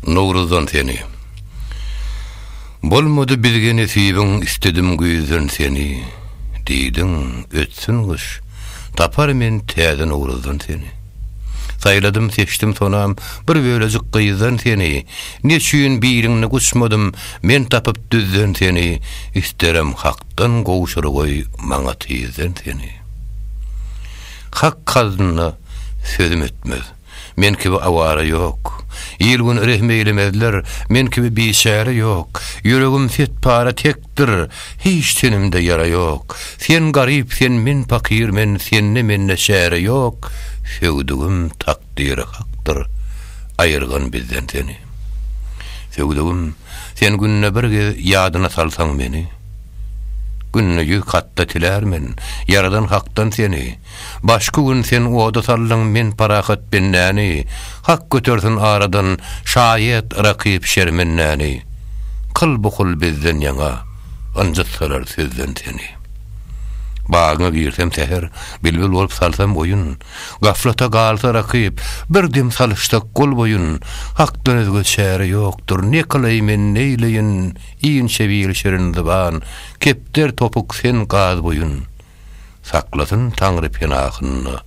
Nowruzdan seni. Bolmady bizge nesibiň Isledim güýzden seni. Diýdiň, ötsün gyş, Tapar men täze Nowruzdan seni. Saýladym, seçdim sonam Bir bölejik gyzdan seni. Neçüýn biriňni guçmadym Men tapyp düzden seni. Isterim Hakdan gowşur goý Maňa tizden seni. Hak haznna sözüm ötmez. Men kibi awara ýok. Il-gün rehim eýlemezler, Men kibi biçäre ýok. Ýüregim set-para tekdir, Hiç tenimde ýara ýok. Sen garyp, sen men pakyr, Men sende mende çäre ýok. Söwdügim takdyry hakdyr, Aýyrgyn bizden seni. Söwdügim, sen günde bir gez Ýadyna salsaň meni. Günde ýüz katda tilär men, Ýaradan Hakdan seni. Başky gün sen oda saldyň men parahat bendäni, Hak götersin aradan şaýat rakyp şermendäni. Kyl bu kul bizden ýaňa, ynjytsalar sözden seni. Bagyňa girsem säher, bilbil bolup salsam oýun, Gaflata galsa rakyp, bir dem salyşsak gol-boýun, Hakdan özge çäre ýokdur, ne kylaý men neýleýin, Inçe bil şirin zyban, kepder topuk sen gaz boýun. Saklasyn Taňry penasynda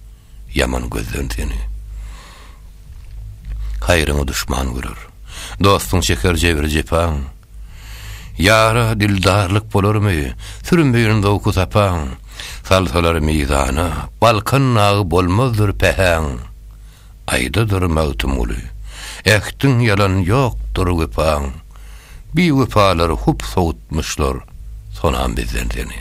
ýaman gözden seni. Haýryňy duşman görer. Dostuň çeker jebir-jepaň. Ýara dildarlyk bolarmy, sürmeýin zowky-sapaň. Salsalar mizana, Balkan nagy bolmazdyr pähäň. Aýdadyr Magtymguly, Ähtiň ýalan ýokdur wepaň, Biwepalar hup sowutmyşlar sonam bizden seni.